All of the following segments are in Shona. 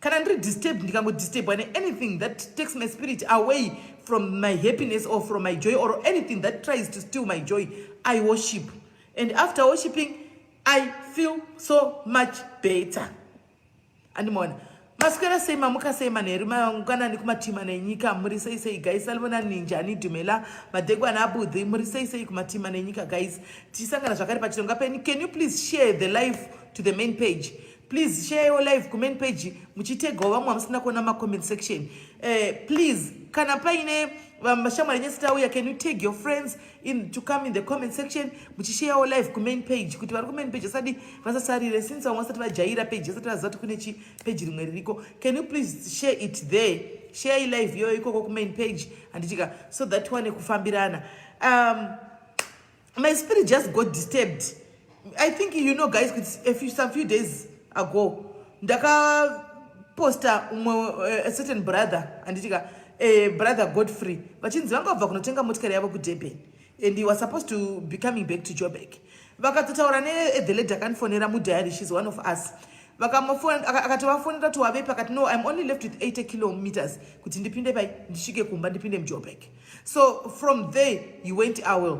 kana ndiri disturb ndikangodisturba neanything that takes my spirit away from my happiness or from my joy or anything that tries to steal my joy i worship and after worshiping i feel so much better andimaona maswera sei mamuka sei manheru mangwanani kumatima nenyika muri sei sei gais alivona ninja anidhumela madhegu ana abudhi muri sei sei kumatima nenyika gais tichisangana zvakare pachirongwa penyu can you please share the life to the main page please share your live comment page muchitegawo vamwe vamusina kuona macomment section uh, please kana paine vashamwari nyese tauya can you tag your friends in to come in the comment section muchisheyawo live kumain page kuti vari kumain page asati vasasarire since vamwe vasati vajaira page asati vaziva kuti kune chi page rimwe ririko can you please share it there share ilive iyoyo ikoko kumain page handichika so that one kufambirana um, my spirit just got disturbed i think you know guys a few, some few days ago ndakaposta umwe uh, a certain brother anditika uh, brother godfrey vachinzi vanga vabva kunotenga motikari yavo kudurban and he was supposed to be coming back to jobek vakatotaura nethe lady akandifonera mudiary shes one of us akatovafonera kuti wavepi akati no im only left with 80 kilometers kuti ndipinde pai ndisvike kumba ndipinde mujobek so from there he went away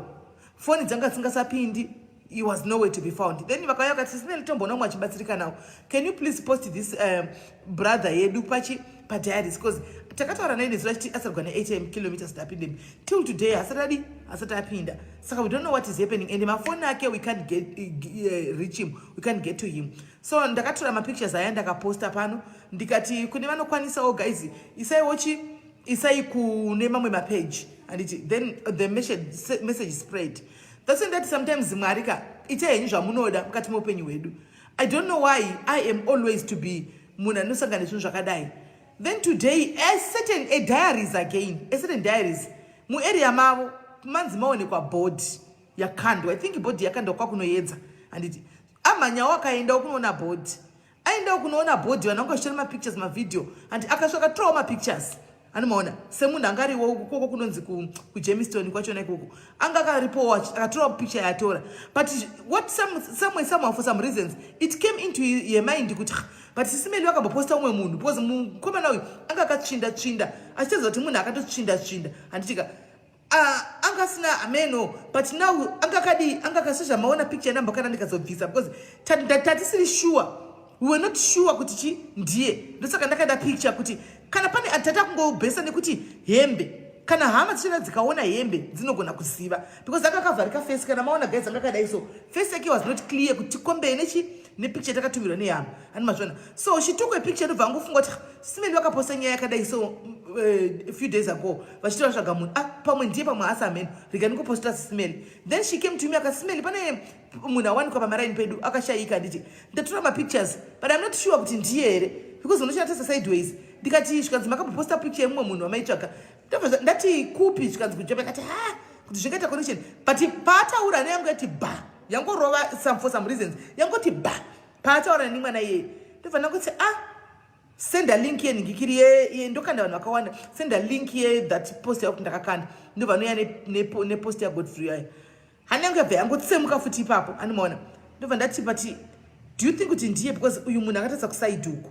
foni dzanga dzisingasapindi he was nowhere to be found then vakauya vakati sisina litomboona umwe achibatsirika nawo can you please post this um, brother yedu pachi padiaries because takataura naye nezuva chiti asarigwa ne8m kilometers tapindemi till today asati adi asati apinda saka we don't know what is happening and mafoni ake we can't get, uh, reach him we can't get to him so ndakatora mapictures aya ndakaposta pano ndikati kune vanokwanisawo guys isaiwochi isai kune mamwe mapage handiti then the message spread that's in that sometimes mwari ka itai henyu zvamunoda mukati meupenyu hwedu i don't know why i am always to be munhu anosangana nezvinhu zvakadai then today a certain a diaries again a certain diaries muarea mavo manzi maonekwa board yakandwa i think board yakandwa kwakunoyedza handiti amhanyawo akaendawo kunoona board aendawo kunoona body vanhu vanga vachitora mapictures mavideo and akasvaka torawo mapictures anomaona semunhu anga ariwo ukoko kunonzi kujemiston kwachona ikoko anga akaripowo akatora picture yatora but what some, some, some, for some reasons it came into her mind kuti but sisimeli vakamboposta umwe munhu because mukomana uyu anga akatsvinda tsvinda achitaridza kuti munhu akatotsvinda tsvinda handitika Ah, anga asina hameno but now anga kadii anga ka sezvamaona picture yanamba kana ndikazobvisa because tatisiri sure we were not sure kuti chi ndiye ndosaka ndakaenda picture kuti kana pane atata kungobhesa nekuti hembe kana hama dzichena dzikaona hembe dzinogona kuziva because anga kavharika face kana maona guys anga kadai so face yake was not clear kuti kombee nechi nepicture takatumirwa neyama ani mazvona so she took a picture ndobva angofunga kuti simeni vakaposta nyaya yakadai so uh, few days ago vachiti vatsvaga munhu ah, pamwe ndiye pamwe asi amene rega ndikuposta sisimeni then she came to me aka simeni pane munhu awanikwa pamaraini pedu akashayika handiti ndatora mapictures but im not sure kuti ndiye here because unochina tese sideways ndikati zvikanzi makamboposta picture yemumwe munhu wamaitsvaga ndabva ndati kupi zvikanzi kujapa kati ha kuti zvikaita connection but paataura neyangu yati ba yangorova some for some reasons yangoti ba paataura neni mwana iyeye ndobva ndakuti a ah, senda link ye nhingikiri ye ndokanda vanhu vakawanda senda link ye that post yakuti ndakakanda ndobva anoya nepost yagodfrey yayo hana yangu yabva yangotsemuka futi ipapo andimaona ndobva ndati but do you think kuti ndiye because uyu munhu akatatsa kusaiduku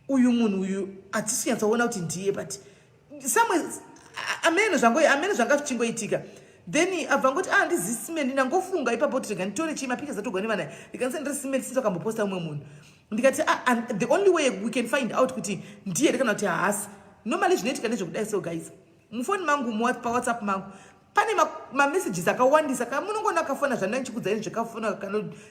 uyu munhu uyu hatisi kunyatsaona kuti ndiye but somewhere amene zvango amene zvanga zvichingoitika then abva ngoti ah ndizi simeni ndangofunga ipapo kuti rega nditore chii mapictures atogwa nevana ndikaisa ndiri simeni since wakamboposta umwe munhu ndikati ah, and the only way we can find out kuti ndiye here kana kuti haasi normally zvinoitika nezvekudai so guys mufoni mangu pawhatsapp mangu pane mamessages ma akawandisa ka munongona kafona zvandina ndichikudzai zvekafona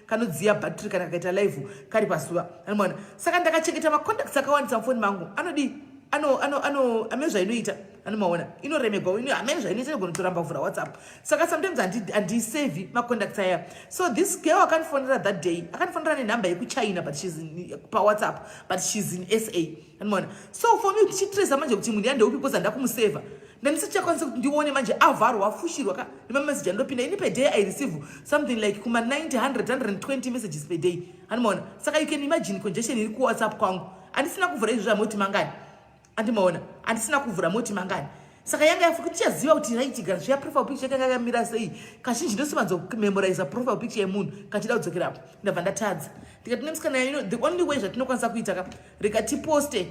kanodziya kano battery kana kakaita live kari pazuva anomwana saka ndakachengeta macontacts akawandisa mufoni mangu anodii ano ano ano amene zvainoita anomaona inoremegwa ino amene zvainoita inogona kutoramba kuvhura whatsapp saka sometimes handiisave macontacts aya so this girl akandifonera that day akandifonera nenumber yekuchina but shes pawhatsapp but shes in sa Mwana. So for me tichitresa manje kuti munhu yandeupi because handa kumuseva. Ndandisichakwanisa kuti ndione manje avharwa afushirwa ka nemamessage andopinda ini per day I receive something like kuma 90 100 120 messages per day. Hanimona. Saka you can imagine congestion iri ku WhatsApp kwangu. Andisina kuvhura izvi zvamoti mangani. Andimaona. Andisina kuvhura moti mangani. saka yanga yafuka tichaziva kuti right gara zviya profile picture yanga yakamira sei kazhinji ndosimanzo memorize profile picture yemunhu kachida kudzokera apo ndabva ndatadza ndikati nemusikana you know the only way zvatinokwanisa kuita ka rika tiposte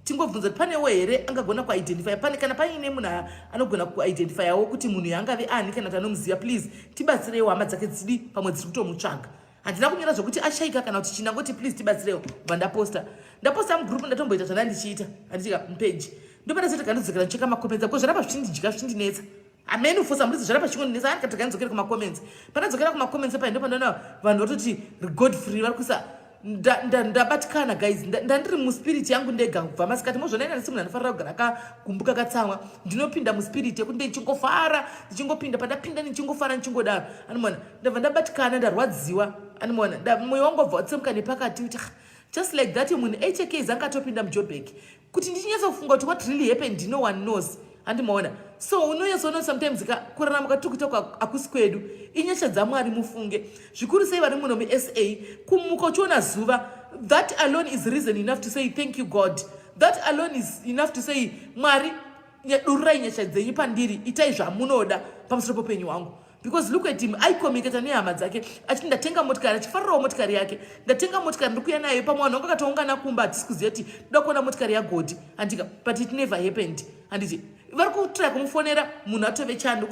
tingobvunza kuti panewo here angagona kuidentifya pane kana paine munhu anogona kuidentifyawo kuti munhu yaangave ani kana kuti anomuziva please tibatsireiwo hama dzake dzidi pamwe dziri kutomutsvaga handina kunyora zvekuti ashaika kana kuti china ngoti please tibatsirewo bva ndaposta ndaposta mugroup ndatomboita zvana ndichiita handitika mupeji ndopata chete kandidzokera ndicheka makomenza ko zvarapa zvichindidya zvichindinetsa amene ufosa murizi zvarapa chingondinetsa ani katoka ndidzokere kumakomenza pandadzokera kumakomenza pahi ndopandoona vanhu vatoti regod free vari kuisa ndabatikana nda, nda guys ndandiri nda muspirit yangu ndega kubva masikati mozvona ina ndisi munhu anofanira kugara akakumbuka katsamwa ndinopinda muspirit yekuti ndichingofara ndichingopinda pandapinda ndichingofara ndichingodaro anomona ndabva ndabatikana ndarwadziwa animoona moyo wangu wabva watsemuka nepakati kuti just like that munhu hk zanga atopinda mujobek kuti ndichinyatsofunga kuti what really happened no one knows andimaona so unonyatsoona sometimes ka kurarama kwatiri kuita hakusi kwedu inyasha dzamwari mufunge zvikuru sei vari muno musa kumuka uchiona zuva that alone is reason enough to say thank you god that alone is enough to say mwari dururai nyasha dzenyu pandiri itai zvamunoda pamusoro popenyu wangu because look at him aicommunicata nehama dzake achiti ndatenga motikari achifarirawo motikari yake ndatenga motikari ndiri kuya nayo pamwe vanhu vanga katoungana kumba hatisi kuziva kuti toda kuona motikari yagodi handika but it never happened handiti vari kutry kumufonera munhu atove chando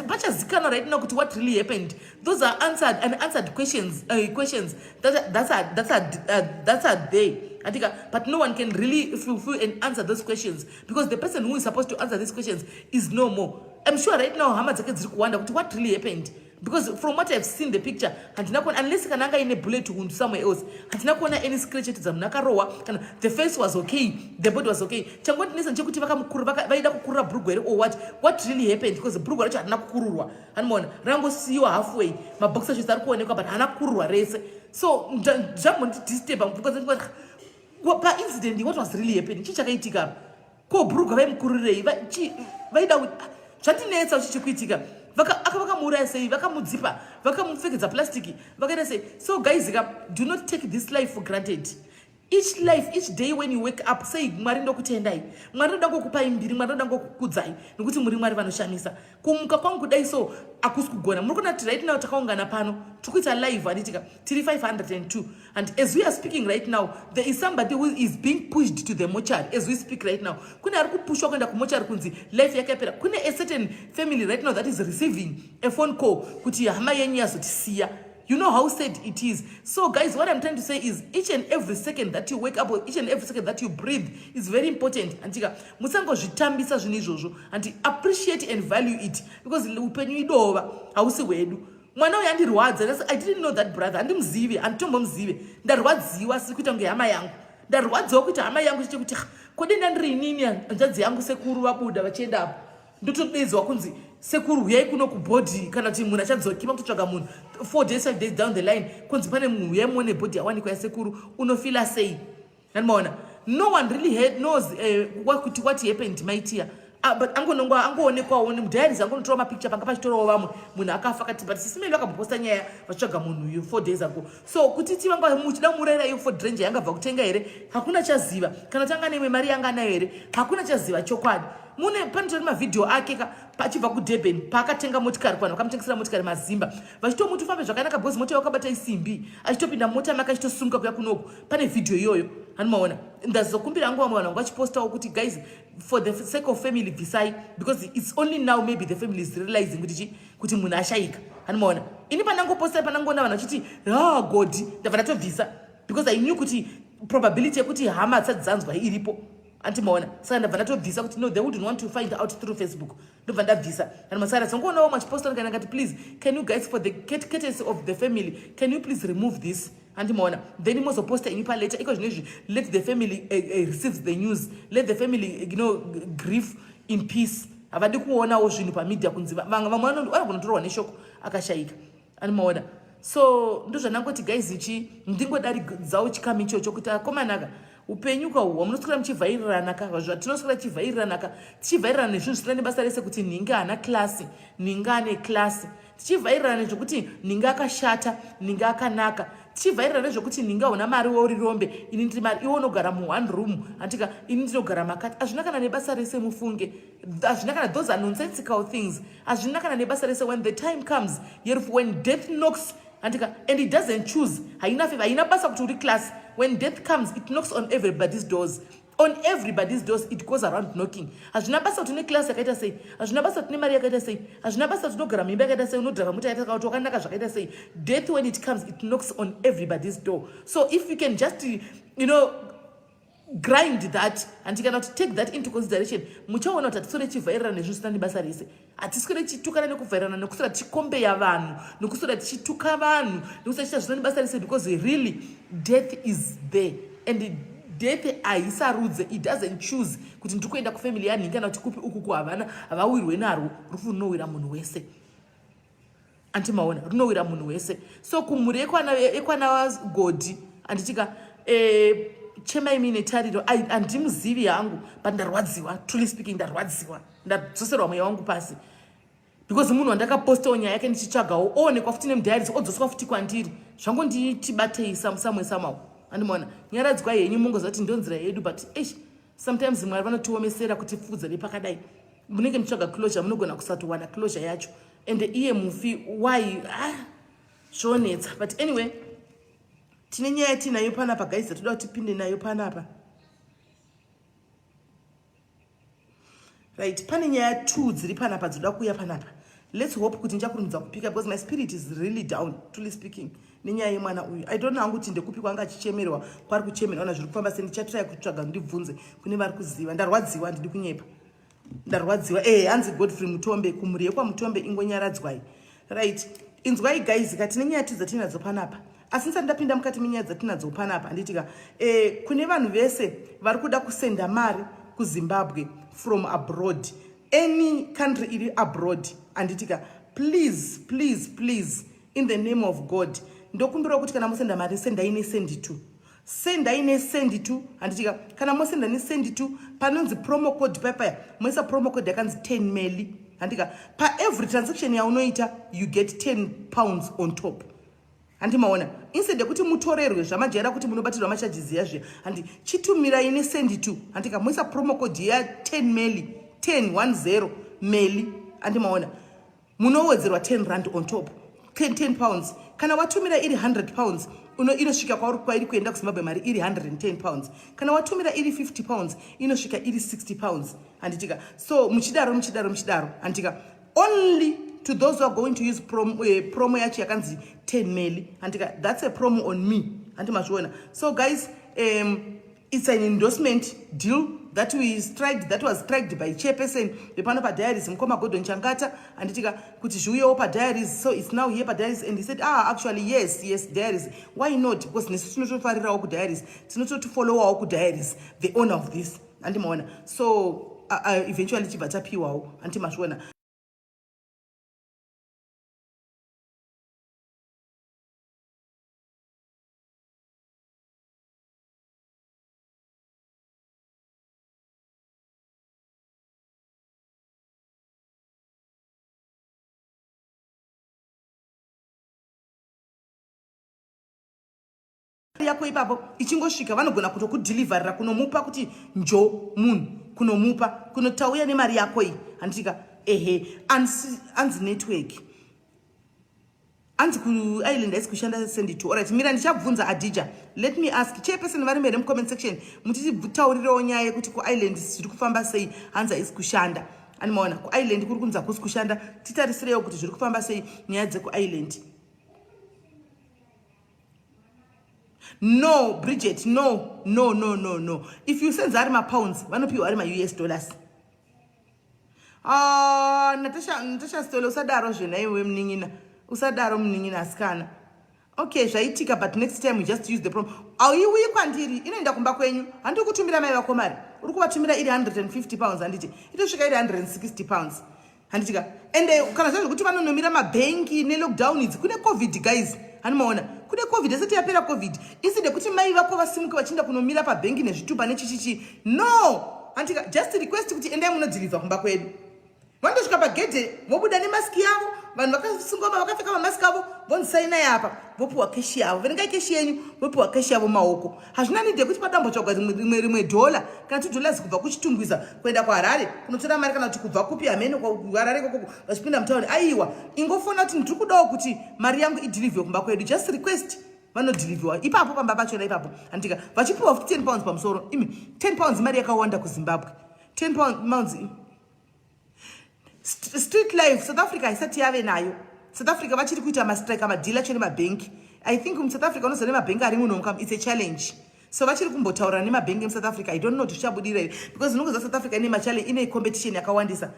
pachazikanwa right now kuti what really happened those are answered and answered questions uh, questions that, that's, a, that's, a, uh, that's a day handika but no one can really fulfill and answer those questions because the person who is supposed to answer these questions is no more I'm sure right now hama dzake dziri kuwanda kuti what really happened because from what I've seen the picture handina kuona unless kana anga ine bullet wound somewhere else handina kuona any scratch yatidza munhu akarohwa kana the face was okay the body was okay changondinetsa chekuti vakamukura vaida kukurura brugwa here or what what really happened because brugwa racho harina kukururwa hanimaona rangosiyiwa halfway maboxer shirts ari kuonekwa but haana kukururwa rese so zvambondidisturba because paincident what was really happening chii chakaitika apa ko bhurugwa vaimukurirei vaida zvatinetsa uchi chikuitika vakamuuraya sei vakamudzipa vakamupfekedza plastic vakaita sei so guys ka do not take this life for granted each life each day when you wake up sei mwari ndokutendai mwari ndoda ngokupai mbiri mwari ndoda ngokukudzai nokuti muri mwari vanoshamisa kumuka kwangu kudai so akusi kugona muri kuona kuti right now takaungana pano tiri kuita live handitika tiri 502 and as we are speaking right now there is somebody who is being pushed to the mochary as we speak right now kune ari kupushwa kuenda kumochary kunzi life yake yapera kune a certain family right now that is receiving a phone call kuti hama yenyu yazotisiya You know how sad it is. So, guys, what I'm trying to say is each and every second that you wake up or each and every second that you breathe is very important. Antika, musango zvitambisa zvinhu izvozvo and appreciate and value it because upenyu idova hausi hwedu. Mwana uyu andirwadza kasi I didn't know that brother andimzive anditombomuzive ndarwadziwa asiri kuita kunge hama yangu ndarwadziwa kuita hama yangu chete kuti kodenda ndiri inini hanzvadzi yangu sekuru vabuda vachienda apo ndotobedzwa kunzi sekuru huyai kuno kubhodhi kana kuti munhu achadzokima kutotsvaga munhu four days five days down the line kunzi pane munhu huyai muone bhodhi yawanikwa yasekuru unofila sei andimaona no one really head knows eh, kuti uh, what happened maitiya ah, but angononga angoonekwawo nemudhairis angonotora mapicture panga pachitorawo vamwe munhu akafa kati but sisi mene vakamboposta nyaya vachitsvaga munhu uyu four days ago so kuti ti vanga muchida murera iyo for dranger yangabva kutenga here hakuna chaziva kana tanga neimwe mari yanga nayo here hakuna chaziva chokwadi mune panotori mavhidhiyo ake ka pachibva kudurban paakatenga motikari kuvanhu vakamutengesera motikari mazimba vachitomuti ufambe zvakanaka bhozi mota wakabata isimbi achitopinda mota make achitosunga kuya kunoku pane vhidhiyo iyoyo hanimaona ndazokumbira hangu vamwe vanhu vangu vachipostawo kuti guys for the sake of family bvisai because its only now maybe the family is realizing kuti chi kuti munhu ashayika hanimaona ini pandangopostai pandangoona vanhu vachiti ha godi ndabva ndatobvisa because i knew kuti probability yekuti hama dzisati dzanzwa iripo anti maona saka ndabva ndatobvisa kuti no they wouldn't want to find out through facebook ndobva ndabvisa and masara dzongoonawo machiposta ndikana ngati please can you guys for the courtesy of the family can you please remove this anti maona then mozoposta ini paletter iko zvino izvi let the family uh, uh, receives the news let the family eh, you know grief in peace havadi kuonawo zvinhu pamedia kunzi vamwe vanogona kutorwa neshoko akashayika ani maona so ndozvanangoti guys ichi ndingodaridzawo chikamu ichocho kuti akomanaka upenyu ka uhwa munoswera muchivhairirana ka zvatinoswera tichivhairirana ka tichivhairirana nezvinhu zvisina nebasa rese kuti nhinga haana klasi nhinga ane klasi tichivhairirana nezvekuti nhinga akashata nhinga akanaka tichivhairira nezvekuti nhinga huna mari wauri rombe ini ndiri mari iwo unogara muone room hantika ini ndinogara makati hazvina kana nebasa rese mufunge hazvina kana those are nonsensical things hazvina kana nebasa rese when the time comes yerufu when death knocks andika and it doesn't choose haina fe haina basa kuti uri class when death comes it knocks on everybody's doors on everybody's doors it goes around knocking hazvina basa kuti une class yakaita sei hazvina basa kuti une mari yakaita sei hazvina basa kuti unogara mimba yakaita sei unodhara muta yakaita kuti wakanaka zvakaita sei death when it comes it knocks on everybody's door so if you can just you know grind that and kana kuti take that into consideration muchaona kuti hatiswere tichivhairana nezvinhu zvisina nebasa rese hatiswere tichitukana nekuvhairana nekuswera tichikombeya vanhu nekuswera tichituka vanhu nekuswera tichita zvisina nebasa rese because really death is there and death haisarudze it doesn't choose kuti ndiri kuenda kufamily yanhingi kana kuti kupi ukuku havana havawirwe narwo rufu runowira munhu wese anti maona runowira munhu wese so kumhuri ekwana godhi anditika eh, chemai mine tariro handimuzivi yangu but ndarwadziwa truly speaking ndarwadziwa ndadzoserwa mweya wangu pasi because munhu wandakapostawo nyaya yake ndichitsvagawo oonekwa futi nemudhairis odzoswa futi kwandiri zvango nditibatei samusamwe samawo andimaona nyaradzwa henyu mongoziva kuti ndonzira yedu but eish sometimes mwari vanotiomesera kutifudza nepakadai munenge muchitsvaga closure munogona kusatowana closure yacho and iye mufi why ah, zvonetsa but anyway tine nyaya tiinayo panapa guys toda kuti tipinde nayo panapa right pane nyaya two dziri panapa dzoda kuuya panapa let's hope kuti ndichakurumidza kupika because my spirit is really down truly speaking nenyaya yemwana uyu i don't know hangu kuti ndekupi kwanga achichemerwa kwari kuchemerwa na zviri kufamba se ndichatrai kutsvaga ndibvunze kune vari kuziva ndarwadziwa handidi kunyepa ndarwadziwa eh hanzi godfrey mutombe kumhuri yekwamutombe ingonyaradzwai right inzwai guys ka tine nyaya tidza tinadzo panapa asi ndisati ndapinda mukati menyaya dzatinadzo panapa handitika eh, kune vanhu vese vari kuda kusenda mari kuzimbabwe from abroad any country iri abroad handitika please please please in the name of god ndokumbirawo kuti kana mosenda mari sendai nesendi two sendai nesendi two handitika kana mosenda nesendi two panonzi promo code paya paya moisa promo code yakanzi ten meli handitika paevery transaction yaunoita you get ten pounds on top handi maona instead yekuti mutorerwe zvamajaira kuti munobatirwa macharges ya zviya handi chitumirai nesendi two handitika moisa promo code ya ten meli ten one zero meli handi maona munowedzerwa 10 rand on top 10, 10 pounds kana watumira iri 100 pounds uno inosvika kwauri kwairi kuenda kuzimbabwe mari iri 110 pounds kana watumira iri 50 pounds inosvika iri 60 pounds handitika so muchidaro muchidaro muchidaro handitika only to those who are going to use prom, uh, eh, promo yacho yakanzi 10 meli handitika that's a promo on me handi mazviona so guys um, It's an endorsement deal that we striked, that was striked by chairperson vepano padiaries mukoma gordon changata anditika kuti zviuyewo padiaries so it's now here padiaries and he said ah actually yes yes diaries why not because nesu tinotofarirawo kudiaries tinototifollowawo kudiaries the owner of this andimaona so uh, uh, eventually chibva tapiwawo antimazviona yako ipapo ichingosvika vanogona kutokudhilivharira kunomupa kuti njo munhu kunomupa kunotauya nemari yako iyi handitika ehe anzi network anzi kuisland haisi kushanda sendito orit mira ndichabvunza adija let me ask chairperson varimo here mucomment section mutitaurirewo nyaya yekuti kuisland zviri kufamba sei hanzi haisi kushanda ani maona kuisland kuri kunzi hakusi kushanda titarisirewo kuti zviri kufamba sei nyaya dzekuisland no bridget no no no no no if you senza ari mapounds vanopiwa ari maus dollars Ah, Natasha, Natasha Stole usadaro zvena iwe mnin'ina. Usadaro mnin'ina asikana. Okay, zvaitika but next time we just use the prom. Auiuyi kwandiri, inoenda kumba kwenyu. Handi kutumira mai vako mari. Uri kuvatumira iri 150 pounds handiti. Itosvika iri 160 pounds. Handiti ka. And eh, kana zvazvo kuti vanonomira mabhenki ne lockdown idzi kune covid guys. Hani maona? Kune covid asati yapera covid. Iside kuti mai vako vasimuke vachienda kunomira pabhenki nezvitupa nechichichi no antika just request kuti endai munodhirivha kumba kwedu vandosvika pagedhe vobuda nemaski yavo vanhu vakasungoma vakapfeka mamaski avo vondisainai apa vopiwa keshi yavo verengai keshi yenyu vopiwa keshi yavo maoko hazvina nidi yekuti padambotsvagwa rimwe rimwe dhola kana two dollars kubva kuchitungwiza kuenda kuharare kunotora mari kana kuti kubva kupi hamene kuharare kokoko vachipinda mutauni aiwa ingofona kuti ndiri kudawo kuti mari yangu idhirivhiwe kumba kwedu just request vanodhilivhiwa ipapo pamba pachona ipapo handika vachipiwa futi 10 pounds pamusoro imi 10 pounds imari yakawanda kuzimbabwe 10 pounds street life south africa haisati yave nayo south africa vachiri kuita mastrike amadhila chene mabhenki i think musouth africa unoziva nemabhenki ari muno its a challenge so vachiri kumbotaurana nemabhengi emusouth africa i don't know kuti zvichabudira here because ndinongoziva south africa ine machallenge ine competition yakawandisa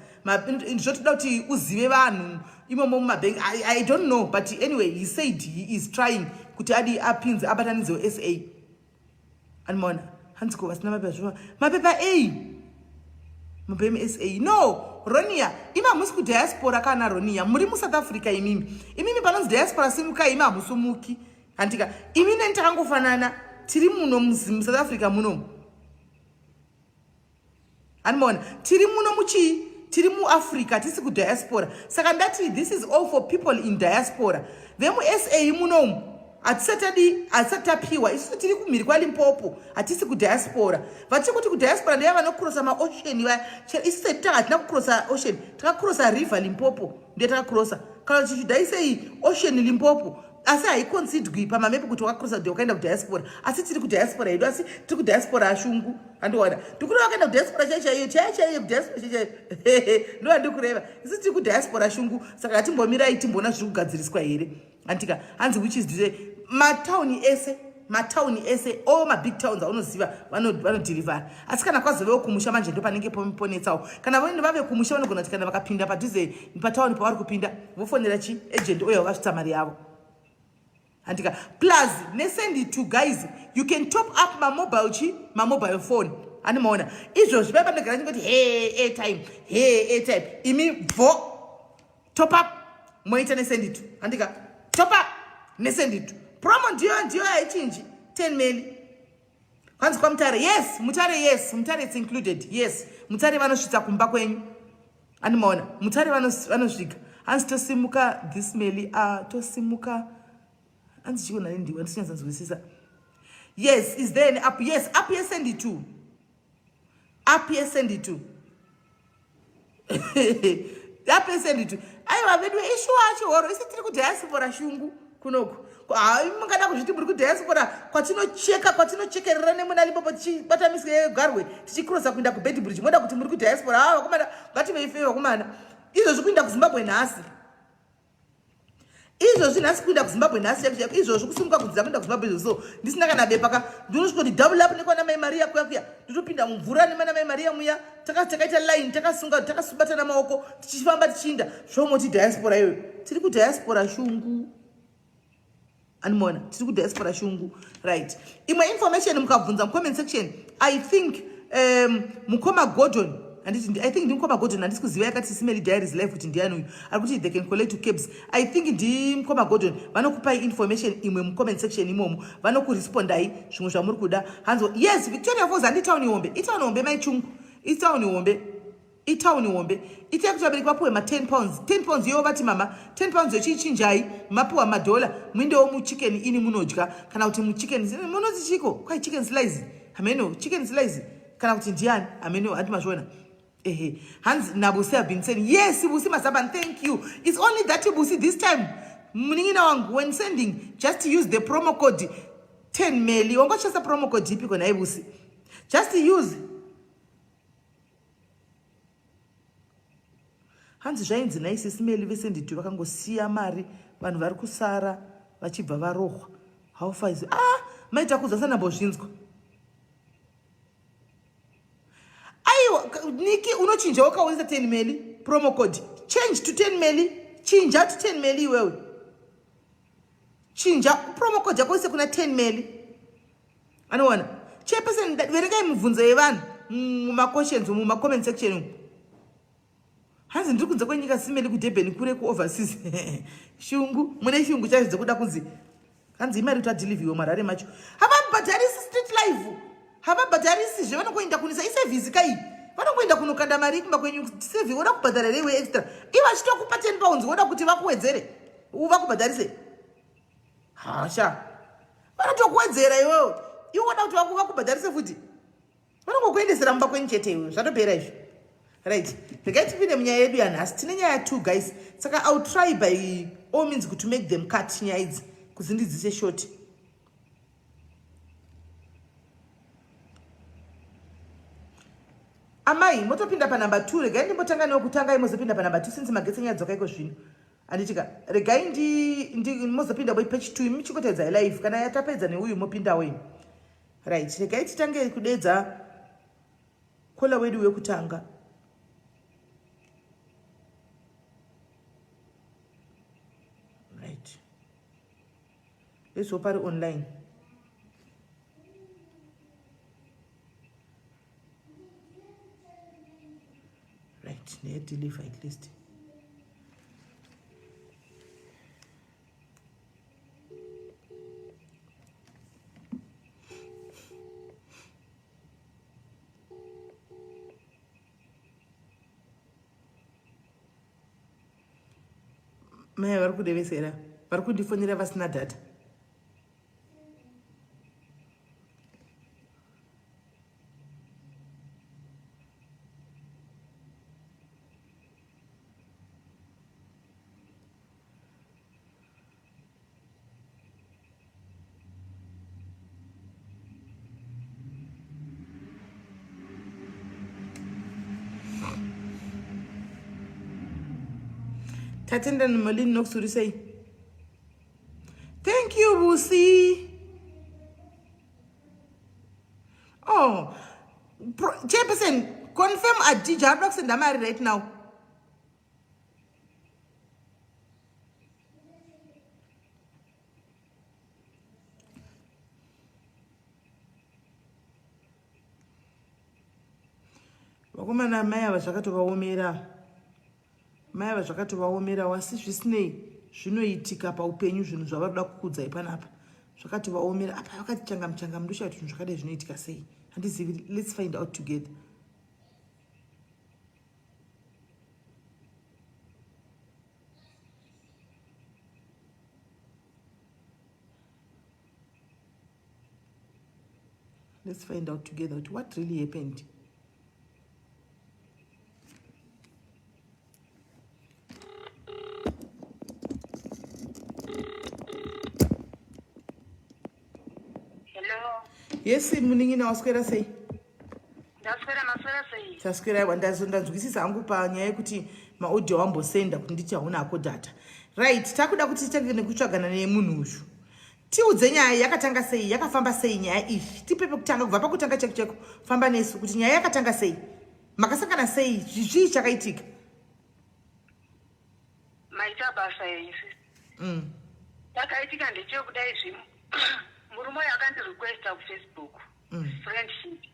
zvotoda kuti uzive vanhu imomo mumabhengi I, i don't know but anyway he said he is trying kuti adi apinze abatanidzewo sa animoona hanzi ko vasina mapepa zvova mapepa a mapepa msa no ronia imi hamusi kudiaspora kana ronia muri musouth africa imimi imimi panonzi diaspora simukai imi hamusumuki handika imi neni takangofanana tiri muno musouth africa muno handimaona tiri muno muchii tiri muafrica tisi kudiaspora saka ndati this is all for people in diaspora vemusa munomu hatisatadi hatisati tapiwa isusu tiri kumhiri kwalimpopo hatisi kudiaspora vatiri kuti kudiaspora ndeva vanokrosa maocean vaya isusu tati tanga hatina kukrosa ocean takakrosa river limpopo ndiye takakrosa kana tichidai sei ocean limpopo asi haikonsidwi pamamepi kuti wakakrosa kuti wakaenda kudiaspora asi tiri kudiaspora yedu asi tiri kudiaspora ashungu andiwana ndikureva wakaenda kudiaspora chai chaiyo chai chaiyo kudiaspora chai chaiyo ndo andikureva isi tiri kudiaspora shungu saka hatimbomirai timboona zviri kugadziriswa here antika hanzi which is matauni ese matown ese all mabig towns aunoziva vanodhirivhara asi kana kwazovewo kumusha manje ndo panenge ponetsawo kana vaende vave kumusha vanogona kuti kana vakapinda padhuze patauni pavari kupinda vofonera chi agent oyo vakasvitsa mari yavo handika plus nesendi two guys you can top up mamobile chi mamobile phone ani maona izvozvi pai panogara nyingoti he airtime he airtime imi bvo top up moita nesenditu handika top up nesenditu promo ndiyo ndiyo haichinji 10 meli kwanzi kwamutare yes mutare yes mutare its included yes mutare vanosvitsa kumba kwenyu andimaona mutare vanosvika hanzi tosimuka this meli a ah, tosimuka hanzi chikonani ndiwe ndisinyatsanzwisisa yes is there an app yes app yesenditu apia send it to apia send it to aiwa vedu ishu acho horo isi tiri kudiaspora shungu kunoku mungada kuzviti muri kudiaspora kwatinocheka kwatinochekerera nemuna lipopo tichibata misika yegarwe tichikrosa kuinda kubedbridge moda kuti muri kudiaspora aa ah, vakomana ngativeife vakomana izvozvi kuinda kuzimbabwe nhasi izvozvi nhasi kuinda kuzimbabwe nhasi chaiko chaiko izvozvi kusimuka kudzidza kuinda kuzimbabwe izvozvi so ndisina kana bepa ka ndinosvika kuti double up nekwana mai mariya kuya kuya ndotopinda mumvura nemana mai mariya muya takaita line takasunga takasubatana maoko tichifamba tichiinda zvomoti diaspora iyoyo tiri kudiaspora shungu animoona tiri kudiaspora shungu right imwe information mukabvunza mucomment section i think um, mukoma gordon handiti i think ndimukoma gordon handisi kuziva yakati simeli diaries life kuti ndiani uyu ari kuti they can collect to cabs i think ndimukoma gordon vanokupai information imwe mucomment section imomo vanokurespondai zvimwe zvamuri kuda hanzi yes victoria fos handitown ihombe itown hombe maichungu itown hombe itauni hombe ita yekuti vabereki vapuwe ma 10 pounds 10 pounds iyowo vati mama 10 pounds yochiichinjai mapuwa madhola muindewo muchicken ini munodya kana kuti muchicken munonzi chiko kwai chicken slice hameno chicken slice kana kuti ndiani hameno hati mazviona ehe hanzi nabusi have been saying yes busi mazaban thank you it's only that busi this time munin'ina wangu when sending just use the promo code 10 meli wangochesa promo code ipi kona ibusi just use hanzi zvainzi naisisi meli vese nditi vakangosiya mari vanhu vari kusara vachibva varohwa how far is ah maita kudza sanambozvinzwa aiwa niki unochinja wakaonesa 10 meli promo code change to 10 meli chinja to 10 meli iwewe chinja promo code yako ise kuna 10 meli anowana chairperson verengai mibvunzo yevanhu mumaquestions umu mumacomment section umu hanzi ndiri kunze kwenyika simeli kudurban kure kuoverseas shungu mune shungu chaizvo dzekuda kunzi hanzi imari kuti adeliviwe marare macho havabhadharisi street life havabhadharisi zve vanokuenda kunisa isevhisi kai vanokuenda kunokanda mari kumba kwenyu sevi woda kubhadhara reiwe extra ivo achitokupa ten pounds woda kuti vakuwedzere vakubhadharise hasha vanotokuwedzera iwewo iwe woda kuti vakuva kubhadharise futi vanongokuendesera mumba kwenyu chete iwe zvatopera izvo right regai tipinde munyaya yedu yanhasi tine nyaya two guys saka iwill try by all means kuti make them cut nyaya idzi kuzindidzise shoti amai motopinda panumber two regai ndimbotanga newekutanga imozopinda panumber two since magetsi nyaya dzoka iko zvino handitika regai ndi, ndi mozopinda boi page two imi chikotedza live kana yatapedza neuyu mopindawo imi right regai titange kudedza kola wedu wekutanga right leswo pari online right ndeyedeliver at least mai vari kudevesera vari kundifonera vasina data Tatenda ni malin nok surisay. Thank you Busi. Oh, chairperson, confirm Adija. How do I send Amari right now? vakomana amai ava zvakatovaomera Mai ava zvakatovaomerawo asi zvisinei zvinoitika paupenyu zvinhu zvavanoda kukudzai panapa zvakatovaomera apa vakati changamu changamu ndoshaya kuti zvinhu zvakadai zvinoitika sei handizivi let's find out together Let's find out together kuti what really happened. Yes, munin'ina waswera sei? Ndaswera maswera sei? Taswera aiwa ndanzwisisa hangu panyaya yekuti maaudio wambosenda kuti nditi hauna hako data. Right, takuda kuti titange nekutsvagana nemunhu uyu. Tiudze nyaya yakatanga sei yakafamba sei nyaya iyi tipe pekutanga kubva pakutanga cheko cheko famba nesu kuti nyaya yakatanga sei makasangana sei zvichii chakaitika maita basa yaisi mm. takaitika ndechekudai zvi murume uyo akandirequesta kufacebook mm. friendship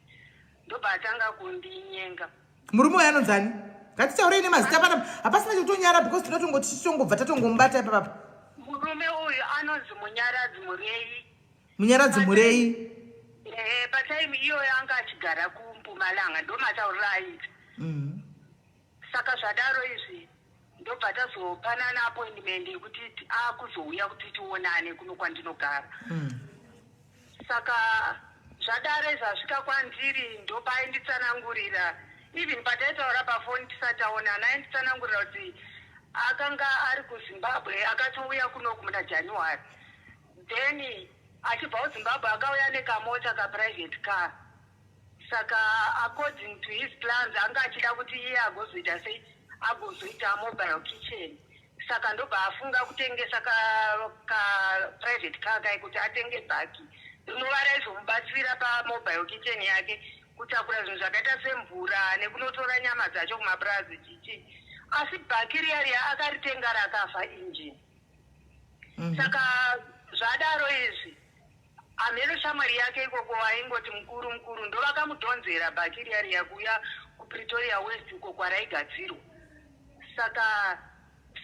ndobva atanga kundinyenga murume uyo anonzi ani ngatitaurei nemazita panapa hapasina chekutonyara because tinotongo tichitongobva tatongomubata ipapapa murume uyu anonzi munyaradzi murei munyaradzi murei ehe pataimu iyoyo anga achigara kumpumalanga ndomataurira aita mm. Saka zvadaro izvi ndobva tazopanana appointment yekuti akuzouya kuti tionane kuno kwandinogara mm. saka zvadaro izvi asvika kwandiri ndopainditsanangurira even pataitaura pafoni tisataonana ainditsanangurira kuti akanga ari kuzimbabwe akatouya kunoku muna january then achibva kuzimbabwe akauya nekamota kaprivate car Saka according to his plans anga achida kuti iye agozoita sei agozoita mobile kitchen saka ndobva afunga kutengesa ka, ka private car kai kuti atenge bhaki rinova raizomubatsira pamobile kitchen yake kutakura zvinhu zvakaita semvura nekunotora nyama dzacho kumapurazi chichi asi bhaki riya riya akaritenga rakafa injini mm -hmm. saka zvadaro izvi Hameno shamwari yake ikoko vaingoti mukuru mukuru ndovakamudhonzera bhaki riya riya kuuya kuPretoria West uko kwaraigadzirwa. Saka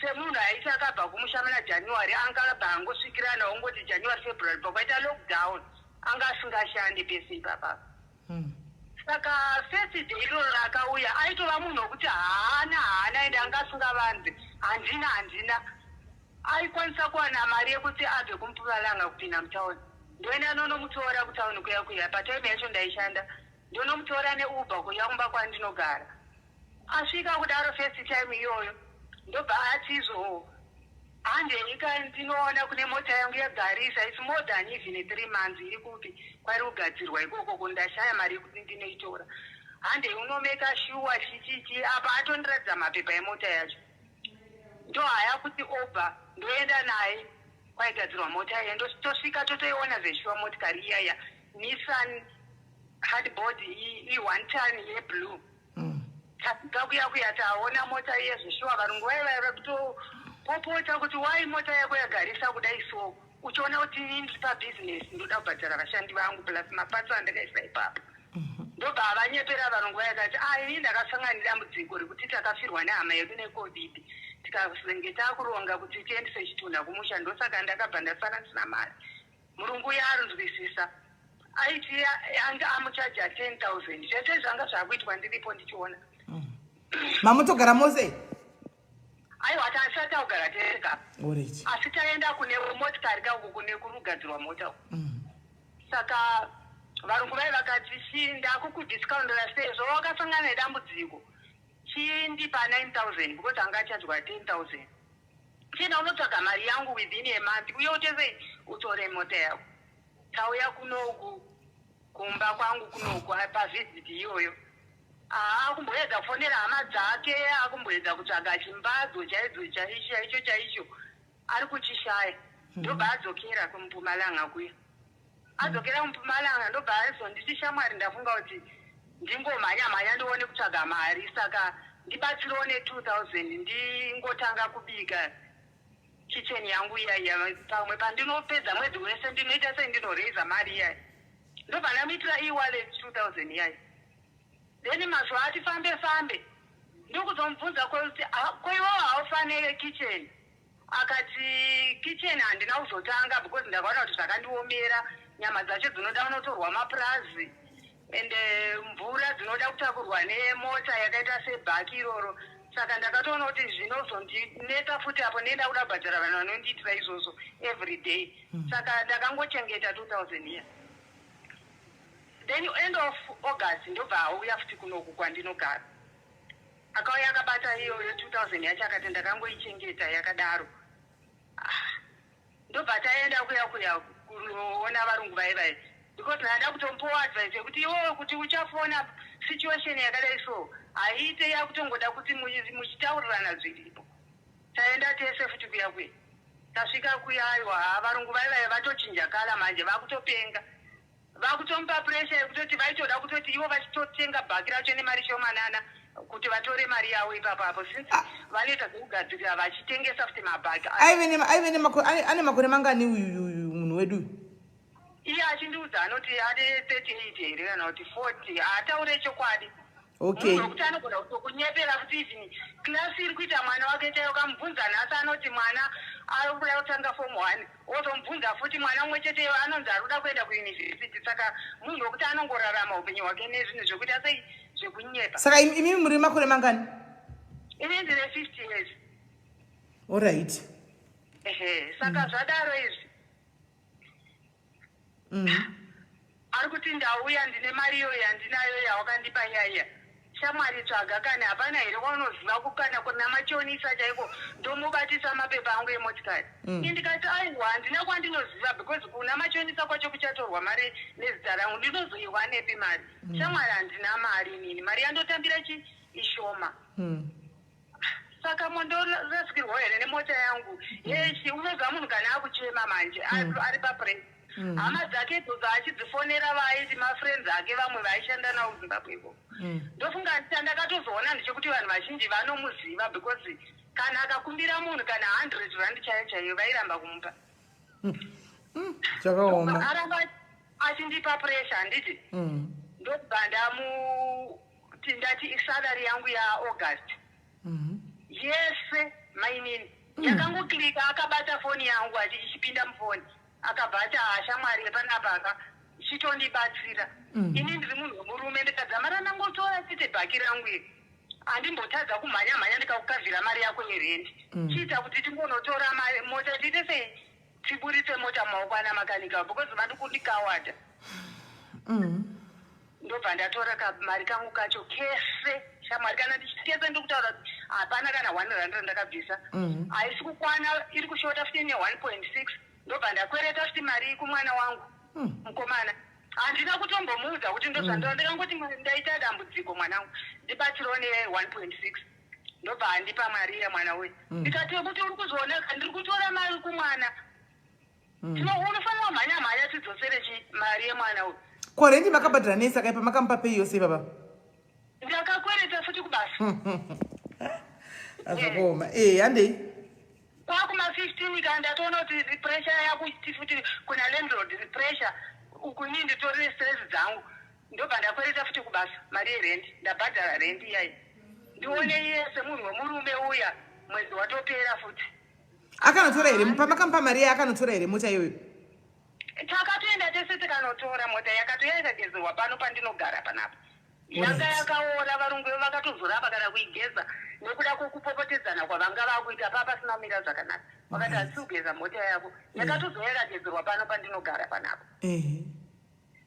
semunhu aiti akabva kumusha muna January anga abva angosvikirana ongoti January February pakaita lockdown anga asingashande pese ipapa. Saka first day iroro raakauya aitova munhu wekuti haana haana ende anga asingavanze handina handina aikwanisa kuwana mari yekuti abve kumpumalanga kupinda mutown ndoenda ndonomutora kutown kuya kuya patime yacho ndaishanda ndonomutora neuber kuya kumba kwandinogara Asvika kudaro first time iyoyo ndobva atizo handei ka ndinoona kune mota yangu yagarisa its more than even three months iri kupi kwari kugadzirwa ikoko ko ndashaya mari yekuti ndinoitora handei unomeka shuwa chichichi apa atondiratidza mapepa emota yacho ndohaya kuti obva ndoenda naye kwaigadzirwa mota iya tosvika totoiona zveshuwa motikari iyaya nissan hardboard i-one ton yeblue tasvika kuya kuya taona mota iye zveshuwa varungu vaye vaye vakutopopota kuti wai mota yako yagarisa kudai so uchiona kuti ini ndiri pabhizinesi ndoda kubhadhara vashandi vangu plus mapatso andakaisa ipapo mhm. ndobva havanyepera varungu vaye kati a ah, ini ndakasangana nedambudziko rekuti takafirwa nehama yedu necovid tikazenge takuronga kuti tiendese chitunha kumusha ndosaka ndakabva ndasara ndisina mari Murungu uya anzwisisa aiti anga amuchaja 10000 zvese zvanga zvakuitwa ndiripo ndichiona mm. mamutogara mose aiwa tasati augara tega asi taenda kune motikari kauku kune kurugadzirwa mota mm. saka varungu vai vakati chii ndakukudiscoundera sezvo wakasangana nedambudziko chii ndipa 9000 because anga achajwa 10000 Chienda unotsvaga mari yangu within a month uye utese utore mota yako. Tauya kunoku kumba kwangu kunoku pavisit iyoyo. Haa akumboedza kufonera hama dzake akumboedza kutsvaga chimbadzo chaidzo chaicho chaicho chaicho ari kuchishaya. Ndobva adzokera kumpumalanga kuya. adzokera kumpumalanga ndobva azonditi shamwari ndafunga kuti ndingomhanya mhanya ndione kutsvaga mari saka ndibatsirewo ne 2000 ndingotanga kubika kitchen yangu iya iya pamwe pandinopedza mwedzi wese ndinoita sei ndinoraise mari iya ndobva ndamuitira ewallet 2000 iya then mazuva ati fambe fambe ndokuzomubvunza kwekuti ah, koiwawo haufanire kitchen Akati kitchen handina kuzotanga because ndakaona kuti zvakandiomera nyama dzacho dzinoda kunotorwa mapurazi and eh, mvura dzinoda kutakurwa nemota yakaita sebhaki iroro saka ndakatoona kuti zvinozondinetsa futi apo nenda kuda kubhadhara vanhu vanondiitira izvozvo every day hmm. saka ndakangochengeta 2000 year then end of august ndobva auya futi kunoku kwandinogara Akauya akabata iyoyo 2000 yacho akati ndakangoichengeta yakadaro. Ah, ndobva taenda kuya kuya kunoona varungu vaye vaye because ndada kutombowa advice yekuti iwoyo kuti uchafona situation yakadai so haiite yakutongoda kuti muchitaurirana zviripo. Taenda tese futi kuya kuya tasvika kuya aiwa varungu vaye vaye vatochinja kala manje vakutopenga. Vakutomupa pressure yekutoti vaitoda kutoti ivo vachitotenga bhaki racho nemari shomanana kuti vatore mari yavo ipapo apo since ah. vanoita zvekugadzirira vachitengesa futi mabhaki ane makore mangani uyu uyu munhu wedu uyu iye achindiudza anoti ane 38 here kana kuti 40 haataure chokwadi Okay. Munhu wekuti anogona kutokunyepera kuti even class iri kuita mwana wake chaiyo kamubvunza nhasi anoti mwana ari kuda kutanga form one otomubvunza futi mwana umwe chete iwe anonzi ari kuda kuenda kuuniversity saka munhu wekuti anongorarama upenyu hwake nezvinhu zvekuita sei zvekunyepa saka im- imimi muri makore mangani ini ndine fifty years olright ehe saka zvadaro izvi mm. ari kuti ndauya ndine mari iyo yandinayo yawakandipa yaiya shamwari tsvaga kana hapana here waunoziva kukana kuna machonisa chaiko ndomubatisa mapepa angu emotikari mm. indikati aiwa handina kwandinoziva because kuna machonisa kwacho kuchatorwa mari nezita rangu ndinozoiwa nepi mari mm. shamwari handina mari nini mari yandotambira chi ishoma mm. saka mondorasikirwa here nemota yangu mm. hechi unoziva munhu kana akuchema manje mm. ari papres mm. hama dzake dzoza achidzifonera vaaiti mafriends ake vamwe vaishanda nawo kuzimbabwe ko ndofunga ndita ndakatozoona ndichekuti vanhu vazhinji vanomuziva because kana akakumbira munhu kana hundred rand chaiyo chaiyo vairamba kumupa chakaoma aramba achindipa pressure handiti ndokubva ndamu kuti ndati isalary yangu yaaugust mhm. yese mainini mm. yakangoklika akabata foni yangu ati ichipinda mufoni akabva ati haashamwari ah, yepanapaka chitondibatsira mm. ini ndiri munhu wemurume ndikadzamara ndangotora chete bhaki rangu iri handimbotadza kumhanya mhanya ndikakukavhira mari yako yerendi mm. chiita kuti tingonotora mota tiite sei tiburitse mota mumaoko ana makanika because vadi kundikawada mm. ndobva ndatora kamari kangu kacho kese shamwari kana ndichikese ndiri kutaura kuti hapana kana one rand randakabvisa mm. haisi kukwana iri kushota futi ne one point six ndobva ndakwereta futi mari kumwana wangu mm. mukomana handina kutombomuudza kuti ndozvandira ndikangoti ndaita dambudziko mwanangu ndibatsirwo ne one point six ndobva andipa mari iya mwana uyu mm. ndikati wekuti uri kuzvioneka ndiri kutora mari kumwana mm. tino unofanira mhanya mhanya tidzosere chi mari yemwana uyu ko rendi makabhadhira nei saka ipa makamupa pei yose ipapa ndakakwereta futi kubasa azvakaoma e eh, handei kwakuma fifteen ka ndatoona kuti repressure yakuti futi kuna landlord repressure ukunii nditorine stress dzangu Ndobva ndakwereta futi kubasa mari yerendi ndabhadhara rendi iyayi ndione iye semunhu wemurume uya mwedzi watopera futi akanotora here pamakamupa mari yaye akanotora here mota iyoyo takatoenda tese tikanotora mota yakatouya ikagezerwa pano pandinogara panapa yanga yakaora varungu ivo vakatozorapa kana kuigeza nekuda kwekupopotedzana kwavanga vakuita paa pasina kumira zvakanaka vakati hatisi kugeza mota yako yakatozoya ikagezerwa pano pandinogara panapa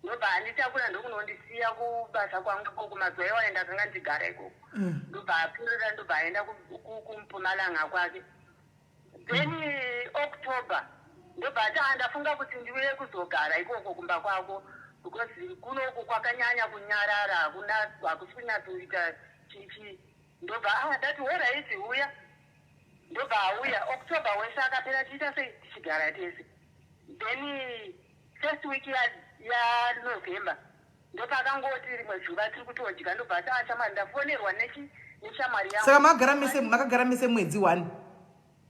ndobva anditakura ndokunondisiya kubasa kwangu ikoko mazuva iwayo ndakanga ndigara ikoko mm. ndobva apurira ndobva aenda kumpumalanga kwake then october ndobva ati ah, ndafunga kuti ndiuye kuzogara ikoko kumba kwako because kunoku kwakanyanya kunyarara hakuna hakusi kunyatsoita chichi ndobva ah, ndati horaiti uya ndobva auya october wese akapera tiita sei tichigara tese then First week ya ya November ndopakangoti rimwe zuva tiri kutodya ndobva ati ah shamwari ndafonerwa nechi neshamwari yangu. Saka magara mese makagara mese mwedzi one.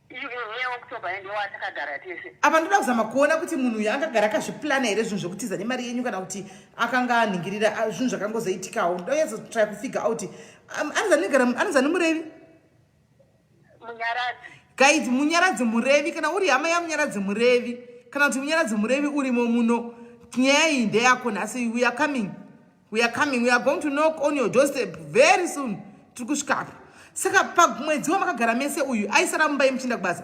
Iye October yende watakagara tese. Apa ndoda kuzama kuona kuti munhu uyu akagara akazviplana here zvinhu zvekutiza nemari yenyu kana kuti akanga anhingirira ah, zvinhu zvakangozoitikawo. Ndoyeza try kufigure out. Um, Anozani murevi? guys munyaradzi murevi kana uri hama yamunyaradzi murevi kana kuti munyaradzi murevi urimo muno nyaya iyi ndeyako nhasi we are coming we are coming we are going to knock on your doorstep very soon tiri kusvikapo saka pamwedzi wamakagara mese uyu aisara mumba yemuchinda kubasa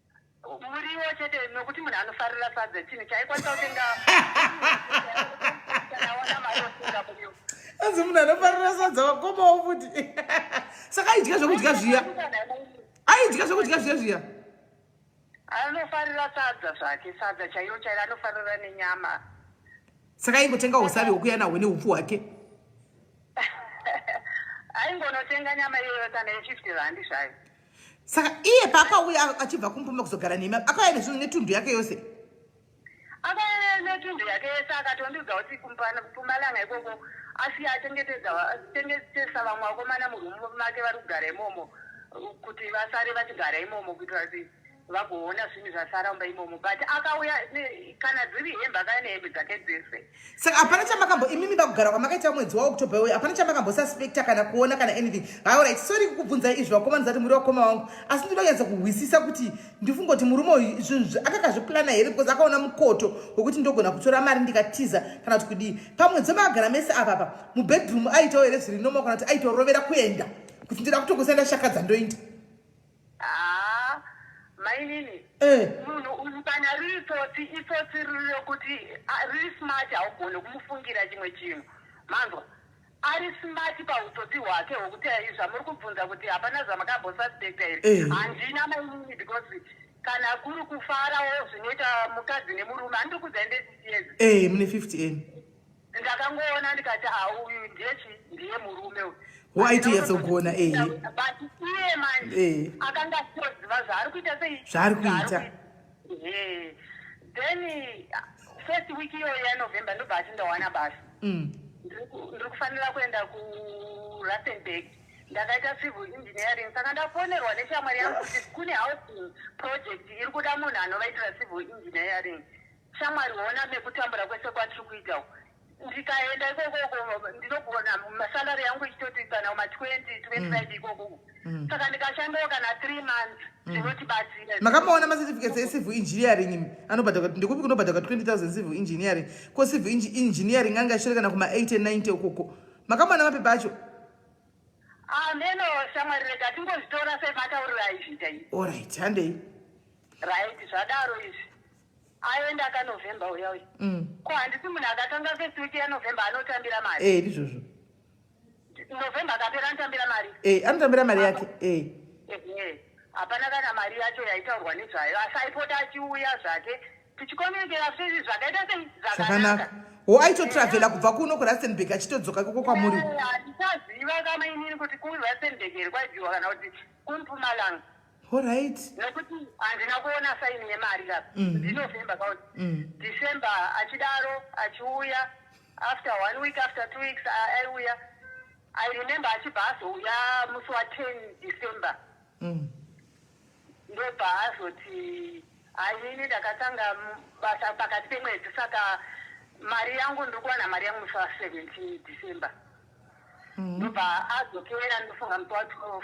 muriwo chete nokuti munhu anofarira sadza chinhu chaikwanisa kutenga anzi munhu anofarira sadza vakomawo futi saka aidya zvekudya zviya aidya zvekudya zviya zviya anofarira sadza zvake sadza chaiyo chairo anofarira nenyama saka aingotenga usavi hwokuya nahwo neupfu hwake aingonotenga nyama iyoyo kana yefifty randi zvayo saka iye paakauya achibva kumpuma kuzogara nemi akauya nezvinhu netundu yake yose akauya netundu yake yese akatondiudza kuti kumpumalanga ikoko asi achengetesa vamwe vakomana murumu make vari kugara imomo kuti vasare vachigara imomo kuitira kuti vagoona zvinhu zvasaramba imomo but akauya kana dziri hembe akauya nehembe dzake dzese saka hapana chamakambo imimi vakugara kwamakaita mwedzi waoctober uyu hapana chamakambo suspecta kana kuona kana anything haurit sori kukubvunzai izvi vakomana zati muri vakoma wangu asi ndinoda kunyatsa kuhwisisa kuti ndifungoti murume uyu zvinhu akakazviplana here because akaona mukoto wekuti ndogona kutora mari ndikatiza kana kuti kudii pamwedzi wamagara mese avapa mubedroom aitawo here zviri noma kana kuti aitorovera kuenda kuti ndida kutokusaenda shakadza ndoinda Haa mainini eh. munhu uyu kana riri tsotsi itsotsi riri rokuti riri smart haugone kumufungira chimwe chinhu manzwa ari smart pautsotsi hwake hwokuti ai zvamuri kubvunza kuti hapana zvamakambosuspecta here eh. handina mainini because kana kuri kufarawo zvinoita mukadzi nemurume handiri kuzaende sisiezi ee eh, mune 50 n ndakangoona ndikati a ah, uyu ndiye chi ndiye murume uyu waitiyetsogona e eh. but iye manje eh. akanga asiroziva zvaari kuita sei zvaari kuita eh. then first week iyoyo yanovember ndobva ati ndawana basa mm. ndiri kufanira kuenda kurustenburg ndakaita civil engineering saka ndafonerwa neshamwari yangu kuti kune housing project iri kuda munhu anovaitira civil engineering Shamwari hona nekutambura kwese kwatiri kuita uku. Ndikaenda ikoko ndinogona masalary yangu ichitoti kana ma 20 25 mm. ikoko uku. Mm. Saka ndikashandawo kana 3 months mm. zvinotibatsira. Makamaona ma certificates e civil engineering anobhadhaka ndikupi kunobhadhaka 20000 civil engineering. Ko civil engineering anga shiri kana kuma 80 90 ukoko. Makamaona mapepa acho. Ah neno shamwari rega tingozvitora sematauriro aizvita. All right, handei. Right, zvadaro izvi. ayoenda akanovhemba uya uya mm. ko handisi munhu akatanga first week yanovhemba anotambira mari e eh, ndizvozvo novhemba akapera anotambira mari e eh, anotambira mari yake e eh. hapana kana mari yacho yaitaurwa nezvayo asi aipota achiuya zvake tichikomunikera sezvi zvakaita sei zvakanaka ho aitotravhela kubva kuno kurasenburg achitodzoka koko kwamuri handisaziva kamainini kuti kurusenburg here kwaibiwa kana kuti kumpumalanga Horaiti. Nekuti handina kuona saini yemari apa. Mhm. Ndinovemba kauri. Mhm. December achidaro achiuya after one week after two weeks aiuya. I remember achibva azouya musi wa 10 December. Mhm. Ndobva azoti hainini ndakatanga basa pakati pemwedzi saka mari yangu ndiri kuwana mari yangu musi wa 17 December. Mhm. Ndobva adzokera ndofunga musi wa 12.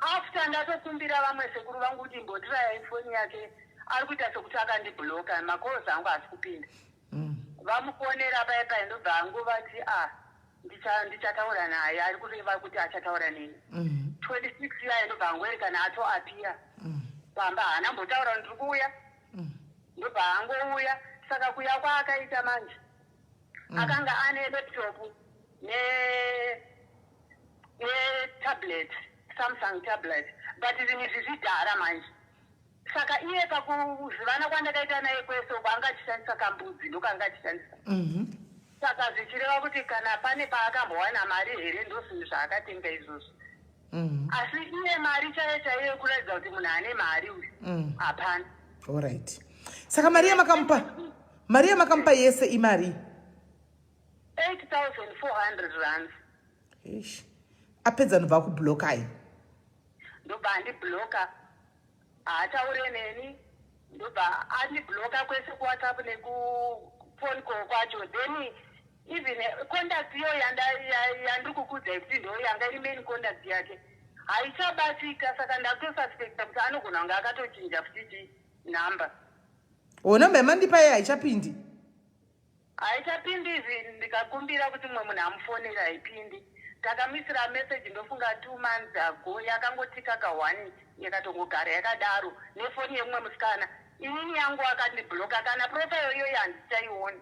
after ndatokumbira vamwe sekuru vangu kuti imbotiraya ifoni yake ari kuita sekuti akandibloka macalls angu haasi kupinda mm. vamufonera paye paye ndobva hangu vati a ah, ndichataura naye ari kureva kuti achataura neni 26 mm-hmm. yaye ndobva hangu erekana atoapiya mm. pamba haana mbotaura ndiri kuuya mm. ndobva hangu uya saka kuya kwaakaita manje mm. akanga ane laptop ne ne tablet samsung tablet but zvinhu izvi zvidhara manje saka iye pakuzivana kwandakaita naye kwese uko anga achishandisa kambudzi ndokanga achishandisa mhm. saka zvichireva kuti kana pane paakambowana mari here ndozvinhu zvaakatenga izvozvo mhm. asi iye mari chaiyo chaiyo yekuratidza kuti munhu ane mari uyu mhm. hapana orit saka mari yamakamupa mari yamakamupa yese imari 8400 rands ish apedza nobva akublokai ndobva andibloka haataure neni ndobva andibloka kwese kuwhatsapp nekufone call kwacho then even contact iyo yandiri kukudzai kuti ndo yanga iri main contact yake haichabatika saka ndakutosuspecta kuti anogona kunge akatochinja futi chii number o number yamandipa iye haichapindi haichapindi izvi ndikakumbira kuti mumwe munhu amufonera haipindi takamisira message ndofunga two months ago yakangotika ka one yakatongogara yakadaro nefoni yemumwe musikana inini yangu akandibloka kana profile iyoyo handichaioni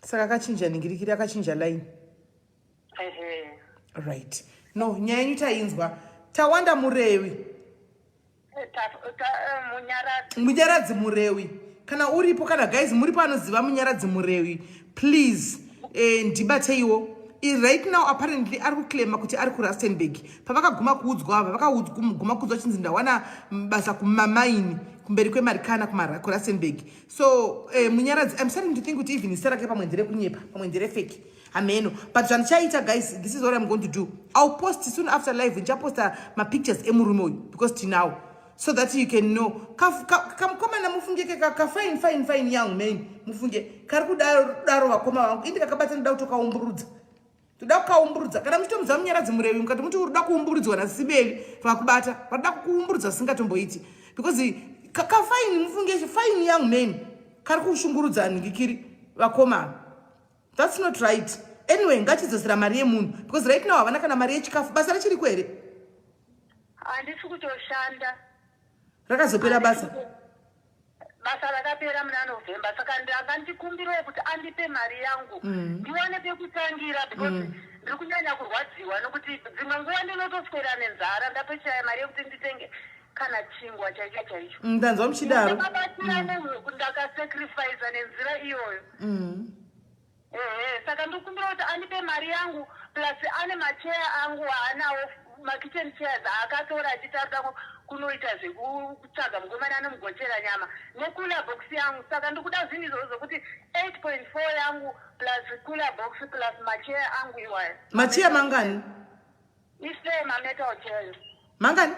saka akachinja ningirikiri akachinja line right no nyaya yenyu tainzwa tawanda murevi munyaradzi murewi kana uripo kana guys muri panoziva munyaradzi murewi please eh, ndibateiwo right now apparently ari kuclaima kuti ari kurustenburg pavakaguma kuudzwa ava vakaguma kuudzwa chinzi ndawana basa kumamaini kumberi kwemarikana kurustenburg so eh, munyaradzi im starting to think kuti even zita rake pamwe nderekunyepa pamwe nderefeki hameno but zvandichaita guys this is what i'm going to do ill post soon after live ndichaposta mapictures emurume uyu because tinawo so that you can know kamukomana mufunge kekakafine fine fine young man mufunge kari kudaro vakoma vangu indi kakabata ndoda kutokaumburudza toda kukaumburudza kana muchitomudza munyaradzi murevi mukati muti urikuda kuumburudzwa nasibevi vakubata vanoda kukuumburudza zvisingatomboiti because kakafaini mufunge faini young man kari kushungurudza nhingi kiri vakomana That's not right. Anyway, ngachidzosera mari yemunhu because right now havana kana mari yechikafu. Basa rachiriko here? Handisi kutoshanda. Rakazopera basa. Basa rakapera muna November saka ndanga ndikumbirawo kuti andipe mari yangu mm. ndiwane pekutangira because mm. ndiri kunyanya kurwadziwa nokuti dzimwe nguva ndinotoswera nenzara ndatochaya mari yekuti nditenge kana chingwa chaicho chaicho mm, ndanzwa muchidaro ndakabatsira mm. nehuku ndakasacrifice nenzira iyoyo mm. ehe saka ndikumbira kuti andipe mari yangu plus ane macheya angu aanawo makitchen chairs aakatora achitarira kunoita zvekutsvaga mukomana anomugochera nyama necooler box yangu saka ndikuda zvinhu izvozvo zvokuti 8.4 yangu plus cooler box plus macheya angu iwayo macheya mangani ise mametal chairs mangani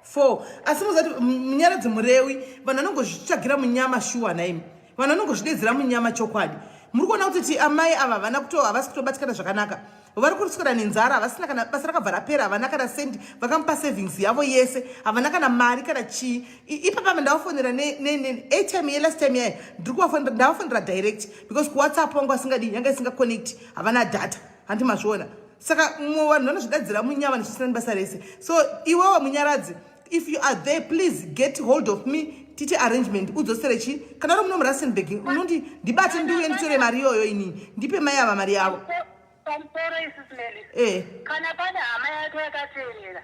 four asi muzati munyaradzi murewi vanhu vanongozvitsvagira munyama shuwa naimi vanhu vanongozvidedzera munyama chokwadi muri kuona kuti ti amai ava havana kuto havasi kutobatikana zvakanaka vari kuriswera nenzara havasina kana basa rakabva rapera havana kana sendi vakamupa savings yavo yese havana kana mari kana chii ipapama ndavafonera atime yelast time yayo ndiri kuvafonera ndavafonera direct because kuwhatsapp wangu asingadi yanga isingaconnect havana data handi mazviona saka mumwe vanhu vanozvidadzira munyama ndichisina nebasa rese so iwewe munyaradzi if you are there please get hold of me titi arrangement udzosere chi kana uri muno murasenbeg unondi ndibate ndiuye nditore mari iyoyo inini ndipe mai ava mari yavo pamusoro isismeli eh. kana pane hama yake yakateerera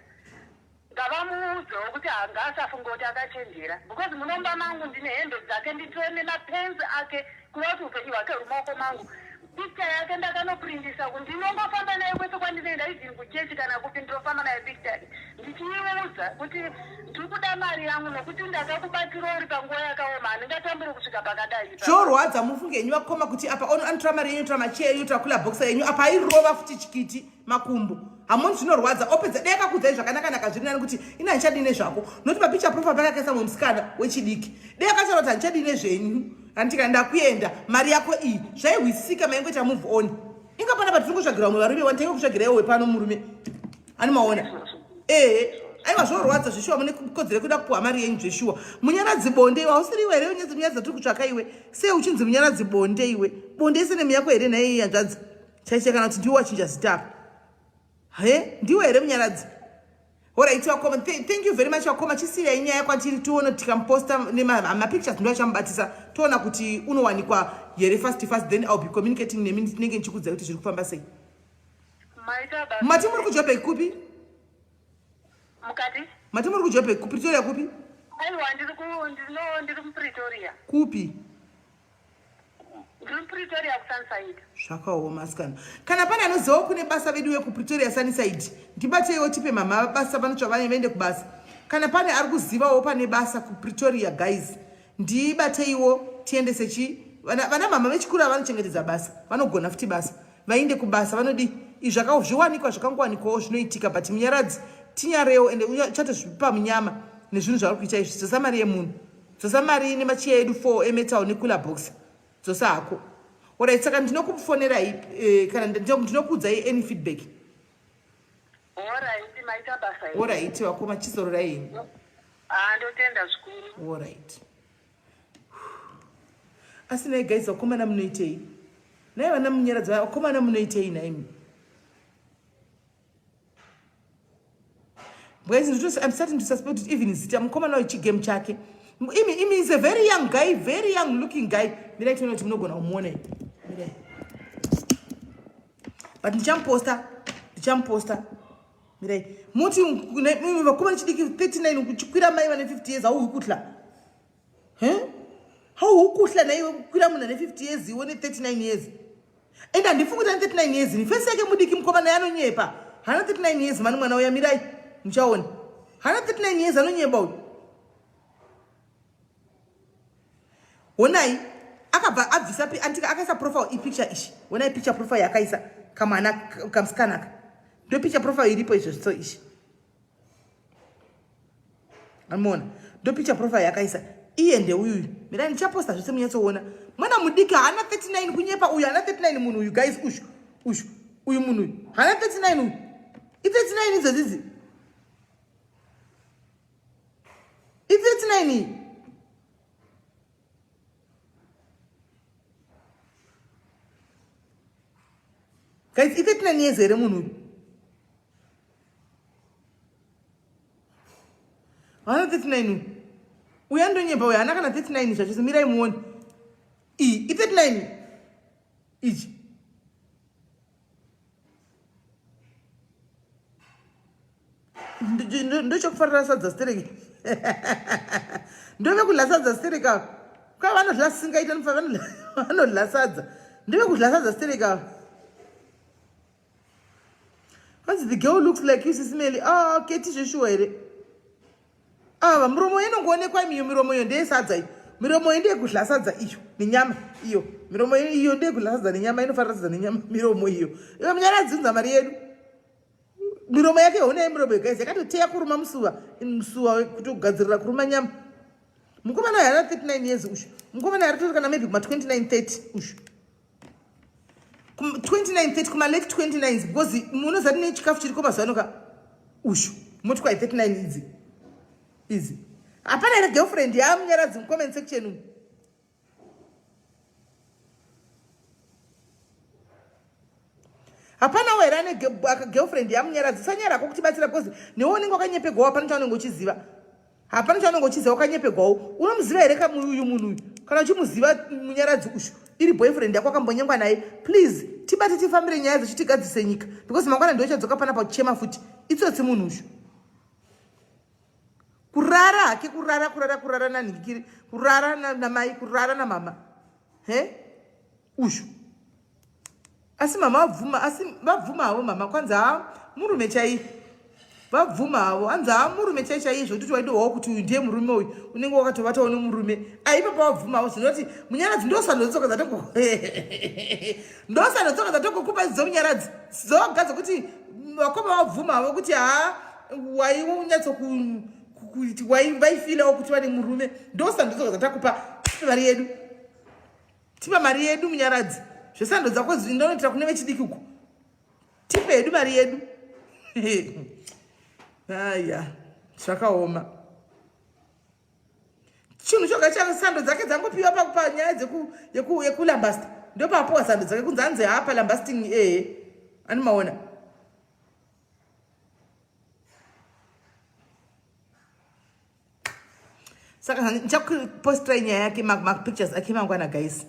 Ngavamuudzewo kuti ngasafunge kuti akachenjera because munomba mangu ndine hembe dzake nditove nemapens ake kureva kuti upenyu hwake huri maoko mangu. Picture yake ndakanoprindisa kuti ndinongofamba naye kwese kwandinoenda even kuchechi kana kupi ndinofamba naye picture yake ndichiiudza kuti ndiri kuda mari yangu nokuti ndakakubatsira uri panguva yakaoma handingatamburi kusvika pakadai zvorwadza mufunge henyu vakoma kuti apa anotora mari yenyu tora macheya yenyu tora kula boxa yenyu apa airova futi chikiti makumbo hamoni zvinorwadza opedza dai akakudzai zvakanaka naka zviri nani kuti ina handichadii nezvako noti papicha profa pakakaisa mumwe musikana wechidiki dai akataura kuti handichadii nezvenyu handitika ndakuenda mari yako iyi zvaihwisika maingoita move on inga pana patiri kutsvagira umwe varume wani tainge kutsvagira iwe wepano murume ani maona ehe aiwa zvorwadza zveshuwa mune kodzere kuda kupuhwa mari yenyu zveshuwa munyaradzi bonde iwe hausiri iwe here unyaradzi tiri kutsvaka iwe sei uchinzi munyaradzi bonde iwe bonde ise nemiyako here nhaiyi yanzvadzi chaicha kana kuti ndiwe wachinja zita apa he ndiwe here munyaradzi horaiti vakoma thank you very much vakoma chisiya inyaya kwatiri tione tikamuposta nemapictures ndiwo achamubatisa toona kuti unowanikwa here fast fast then ill be communicating nemi ndinenge ndichikudzai kuti zviri kufamba sei mati muri kujobheki kupi mukati mati muri kujobheki kupretoria kupi aiwa ndiri kupretoria kupi zvakaoma sikana kana pane anozivawo kune basa vedu vekupretoria sanisaidi ndibateiwo tipe mama vabasa vanotsva vane vaende kubasa kana pane ari kuzivawo pane basa kupretoria guys ndibateiwo tiendese chi vana mama vechikuru avanochengetedza basa vanogona futi basa vainde kubasa vanodii izvaka zviwanikwa zvakangowanikwawo zvinoitika but munyaradzi tinyarewo ende uchatozvipa munyama nezvinhu zvauri kuita izvi sosa mari yemunhu Dzosa mari ine machiya edu 4 emetal necooler box. Dzosa hako. Alright, saka ndinokufonerai eh, kana ndinokuudzai any feedback. Alright, maita basa. Alright, vakoma chizororai henyu. Ah, ndotenda zvikuru. Alright. Asi nei guys vakomana munoitei? Nei vana munyaradza vakomana munoitei naimi? Guys, I'm starting to suspect it even zita mukomana wechigame chake. Imi, imi is a very young guy, very young looking guy. Mira itoona kuti munogona kumuona. Mira. But ndichamuposta, ndichamuposta. Mira. Muti vakomana chidiki 39 kuchikwira mai vane 50 years au kutla. he haukuhla naiwe kukwira munhu ane 50 years iwe ne 39 years and handifungi kuti ane 39 years ni fesi yake mudiki mukoma naye anonyepa hana 39 years mani mwana uya mirai muchaona hana 39 years anonyeba uyu honai akabva abvisa pi antika akaisa profile ipicture ishi honai picture profile yakaisa kamwana kamsikanaka ndo picture profile iripo izvozvitso ishi amona ndo picture profile yakaisa iye ndeuyu mirai ndichaposta zvese munyatsoona mwana mudiki haana 39 kunyepa uyu haana 39 munhu uyu guys ushu ushu uyu munhu uyu haana 39 uyu i39 idzodzizi i39 iyi guys i39 years here munhu uyu haana 39 uyu andonyemba uyu haana kana 39 zvachose mirai muone iyi i 39 ichi ndochokufarira sadza stereki ndove kudla sadza stereki ava kwa vanodla singaita nfa vanodla sadza ndove kudla sadza stereki ava hanzi the girl looks like you sisimeli a ah, keti zveshuwa here ava ah, miromo inongoonekwa imiyo miromo iyo ndeyesadza iyo miromo iyi ndeyekudla sadza iyo nenyama iyo miromo iyo ndeyekudla sadza nenyama inofanira sadza nenyama miromo iyo iyo munyara dzinza mari yedu miromo yake hona yemiromo yegaizi yakatoteya kuruma musuva musuva kutogadzirira kuruma nyama mukomana yari 39 years ushu mukomana yari tori kana maybe kuma 29 30 ushu 29 kuma lake 29 because munoziva tine chikafu chiriko mazuva anoka ushu moti kwai 39 idzi idzi hapana here girlfriend yaamunyaradzi mucomment section umu hapana were ane girlfriend yamunyaradzi usanyarako kutibatsira because newe unenge wakanyepegwawa panotaunenge uchiziva hapana chaunenge uchiziva wakanyepegwawo unomuziva here kamuuyu munhu uyu kana uchimuziva munyaradzi ushu iri boyfriend yako akambonyengwa naye please tibate tifambire nyaya dzechitigadzise nyika because mangwana ndiwo chadzoka panapa uchema futi itsotsi munhu ushu kurara hake kurara kurara kurara nanhikiri kurara namai kurara namama he ushu asi mama vabvuma asi vabvuma havo mama kwanzi haa murume chaiye vabvuma havo hanzi haa murume chai chaiye zvokuti waidohwawo kuti uyu ndiye murume uyu unenge wakatovatawo nemurume aipa pavabvuma havo zvinoti munyaradzi ndosanodzoka dzatoko ndosanodzoka dzatokokupa idzo munyaradzi dzoga dzokuti vakoma vabvuma havo kuti haa wainyatso kuti waifilawo kuti vane murume ndosanodzoka dzatakupa mari yedu tipa mari yedu munyaradzi zvesando dzako ndinoitira kune vechidiki uko tipe yedu mari yedu aya zvakaoma chinhu choga cha sando dzake dzangopiwa pakupa nyaya yekulambasta ndopapuwa sando dzake kunzi anzi hapa lambasting ee eh, ani maona saka ndichakupostirai nyaya yake mapictures ake mangwana guys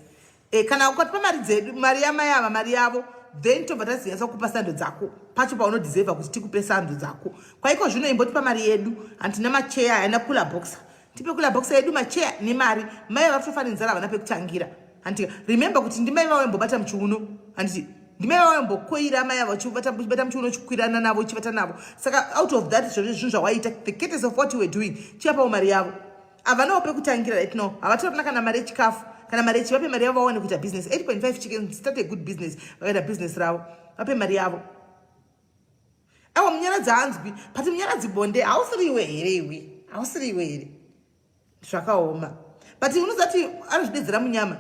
e, kana ukatipa mari dzedu mari yamai ava mari yavo then tobva tazinyatsa kukupa sando dzako pacho paunodeserva kuti tikupe sando dzako kwaiko zvino imbotipa mari yedu hantina macheya haina kula boxa tipe kula boxa yedu macheya nemari mai ava kutofanenzara havana pekutangira handiti remember kuti ndimai vavo yambobata muchiuno handiti ndimai vavo yambokoira amai avo chibata muchiuno chikwirana navo chivata navo saka out of that zvozvo zvinhu zvawaita the cates of what you were doing chiyapavo mari yavo havanawo pekutangira right now havatorina kana mari yechikafu kana mari yechi vape mari yavo vawane kuita business 8.5 chicken start a good business vakaita business ravo vape mari yavo awa munyaradzi hanzwi but munyaradzi bonde hausiriwe here iwe hausiriwe here zvakaoma but unozati anozvidedzera munyama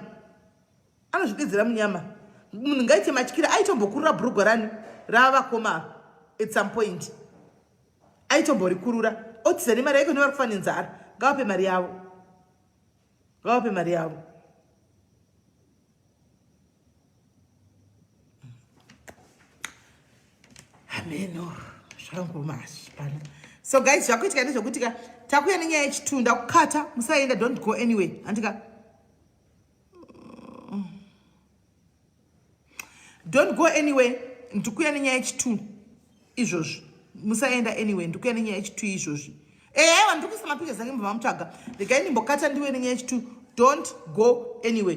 anozvidedzera munyama munhu ngaite matyira aitombokurura bhurugwa rani raavakoma at some point aitomborikurura otiza nemari yaiko nevari kufa nenzara ngavape mari yavo ngavape mari yavo hameno zvangu mashi pana so guys zvakuitika ndezvokuti ka takuya nenyaya yechitu ndakukata musaenda don't go anyway andika don't go anyway ndikuya nenyaya yechitu izvozvi musaenda anyway ndikuya nenyaya yechitu izvozvi ehe eh, wandikuisa mapicha zake mubva mamutsvaga regai ndimbokata ndiwe nenyaya yechitu don't go anyway